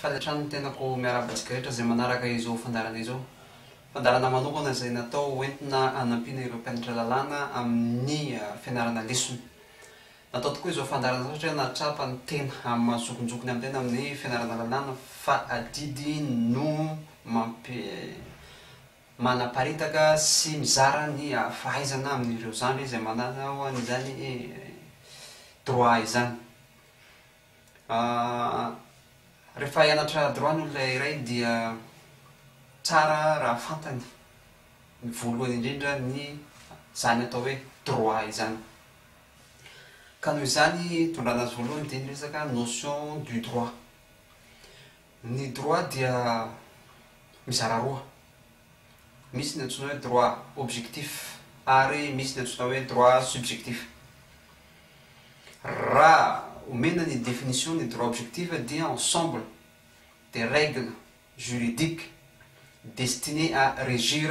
Faly hatrany ny tenako miarahaba antsika rehetra izay manaraka izao fandaharana izao. Fandaharana manokana izay natao hoentina hanampiana ireo mpianatra lalàna amin'ny fianarana lesona. Natao tokoa izao fandaharana izao satria nahatsapa ny tena maha-zokinjokiny amin'ny tena amin'ny fianarana lalàna fa adidy no mampi manaparitaka sy mizara ny fahaizana amin'ireo zandry izay manao an'izany droit izany. Rehefa hianatra droit ny olona iray dia tsara raha fantany ny voalohany indrindra ny izany atao hoe droit izany. Ka noho izany, tondrana azy voalohany dia ny resaka notion du droit. Ny droit dia mizara roa, misy ny antsoina hoe droit objectif ary misy ny antsoina hoe droit subjectif. Raha omena ny definition ny droit objectif dia ensemble des règles juridiques destinées à régir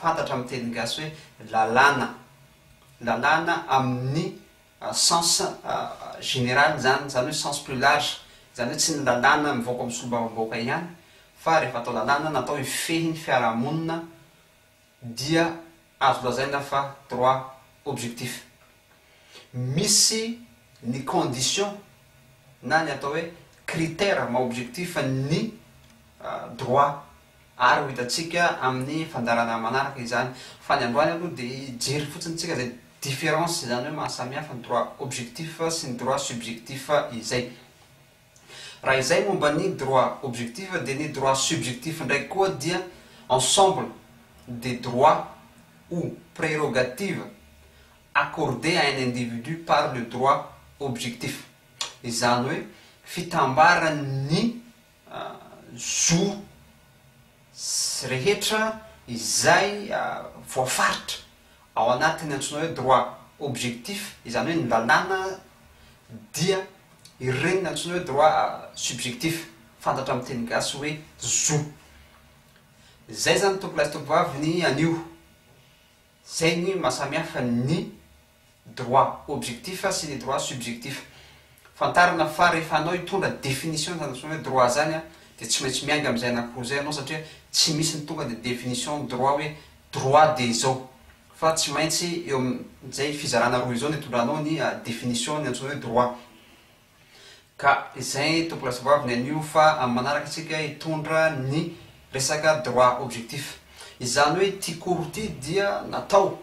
fantatra amin'ny teny gasy hoe lalàna, lalàna amin'ny sens général izany, izany hoe sens plus large, izany hoe tsy ny lalàna mivoaka amin'ny solombavambahoaka ihany fa rehefa atao lalàna natao hifehy ny fiarahamonina dia azo lazaina fa droit objectif. Misy ny condition na ny atao hoe critère maha objectif ny droit ary ho hitantsika amin'ny fandaharana manaraka izany fa ny androany aloha dia hijery fotsiny tsika izay différence izany hoe mahasamihafa ny droit objectif sy ny droit subjectif izay. Raha izay momba ny droit objectif dia ny droit subjectif ndraiky koa dia ensemble des droits ou prérogatives accordés à un individu par le droit objectif. Izany hoe fitambaran'ny zo rehetra izay voafaritra Ao anatin'ny antsoina hoe droit objectif, izany hoe ny lalàna dia ireny antsoina hoe droit subjectif, fantatra amin'ny teny gasy hoe zo. Izay izany tompolahy sy tompovavy ny anio. Izay ny maha samihafa ny droit objectif sy ny droit subjectif. Fantarina fa rehefa anao hitondra définition izany antsoina hoe droit izany dia tsy maintsy miainga amin'izay anankiroa izay ianao satria tsy misy ny tonga dia définition ny droit hoe Droit dia izao. Fa tsy maintsy eo amin izay fizarana roa izao no itondranao ny definition ny antsoina hoe droit. Ka izay tokony ho lazaoavy ny anio fa amin'ny manaraka isika hitondra ny resaka droit objectif. Izany hoe ity cours ity dia natao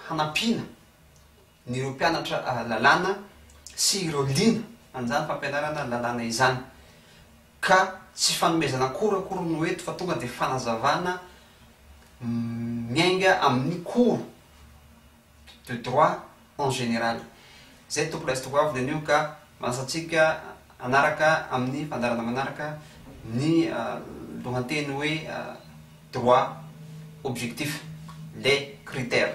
hanampiana ny ireo mpianatra lalàna sy ireo liana an'izany fampianarana lalàna izany, ka tsy fanomezana cours akory no eto fa tonga dia fanazavana miainga amin'ny cours de droit en général. Izay tompoko lahy sy tompoko vavy anio ka manasa antsika hanaraka amin'ny fandaharana manaraka ny lohanteny hoe droit objectif, les critères.